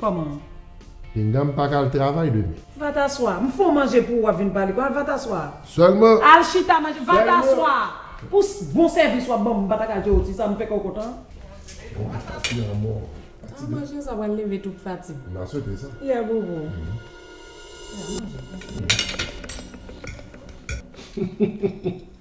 Koman ou? Pinga m pa ka al travay demen. Vataswa, m fon manje pou ou wap vin pale konsa Vataswa. Sèlman. Al chita manje. Vataswa! Pou bon sèvis wap banm m pa ta ka jere w ti sa m fè kè w kontan. Bon apati anmò. An manje sa pral leve tout fatig. M ta swete sa. Yeah booboo. Yeah manje.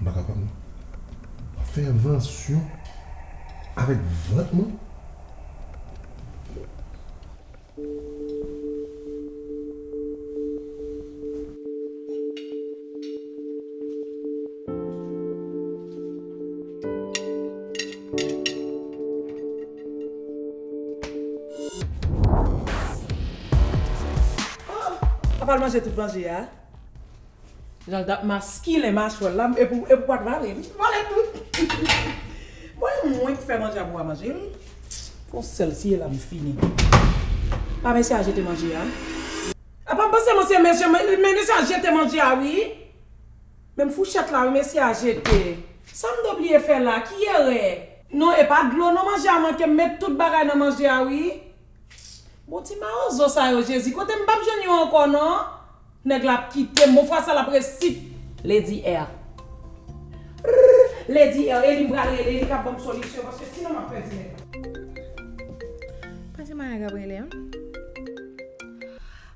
M pa kapab non. Fè envansyon avèk vant mwen? Papa l manje tout manje a? Janl tap maskilen machwèl la epou epou pat vale li vale tout bon e mwen ki fè manje a pou a manje l fon sèl siye la m fini pa mesye a jete manje a. A pa panse mwen se mesye men mesye a jete manje a wi menm fouchèt la wi mesye a jete sam te bliye fè la ki erè. Non e pa dlo non manje a manke m met tout bagay nan manje a wi. Bon ti mawozo sa yo jezi kote m pap jwenn yon ankò non nèg la ap kitem bon fwa sa lap resi Lady R Rrrr Lady R eli m pral rele li kap banm solisyon paske sinon map pèdi nèg la. Pase madan Gabrielle an.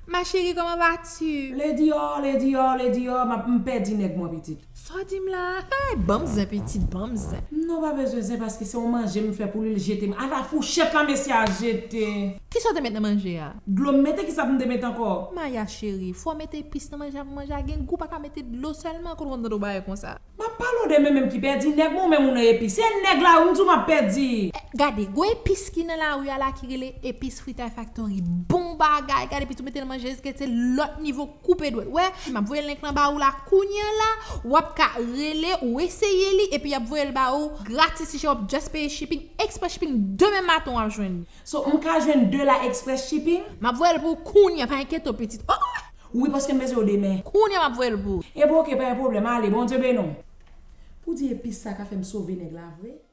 Ma chérie comment vas tu? Lady R Lady R Lady R map m pèdi nèg mwen pitit. Sa w di m la a? Hey! Ban m zen pitit, ban m zen. Non pa bezwen zen paske se yon manje m fè pou li l jete m. Ata fouchèt la mesye a jete. Kisa w te met nan manje a? Dlo m mete kisa pou m te mete ankò? Maya cheri, fò w mete epis nan manje a pou manje a gen gou pa ka mete dlo sèlman kote w konn tande w bay konsa. M ap pale w de men men m ki pèdi nèg mwen ou menm ou nan epis. Se nèg la wi m di w m ap pèdi. Gade, gwo epis ki nan lari a la ki rele epis Fritay Factory. Bon bagay! Gade pitit ou mete nan manje eske'l se lòt nivo. Koupe dwèt wè, map voye link lan ba ou la kounya la, wap ka rele ou eseye li epi yap voyel ba ou gratis ti chen wap just peye shipping, express shipping demen maten wap jwenn li. So m ka jwenn 2 la express shipping? Map voyel pou ou kounya pa enkyete w pitit oh. Wi paske m bezwen yo demen. Kounya map voyel pou ou. Ebyen ok pa gen pwoblèm ale Bondye beni w. Pou di epis sa ka fem sove neg la vre.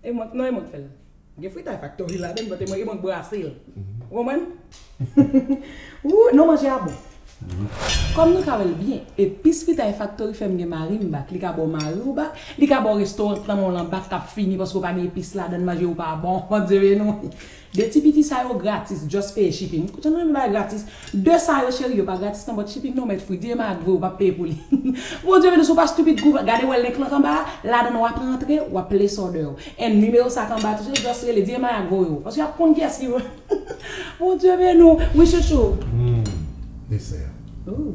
E mwen, non e mwen k fèl. Gen fritay faktori ladann but e mwen e mwen k brase l. Ou konprann? Ooh non manje a bon. Kòm nou ka wè l byen, epis fritay faktori fè m gen mari m back. Li ka ba w mari w back, li ka ba w restaurant nan men w lan back k ap fini paske w pa gen epis ladann manje ou pa bon. Bondye beni w. De ti piti sa yo gratis just peye shipping ou tèlman renmen bagay gratis de sa yo cheri yo pa gratis nan but shipping nan ou mèt fri di Emma ak vwe ou pap peye pou li Bondye beni w si w pa stupid kou va gade wè link lan k anba a ladan wap rantre wap place order ou and nimewo sa k anba tou se just rele di Emma ak vwe ou paske yap konn kiyès ki vwe Bondye beni w wi chouchou. Humm dessert. Ooh.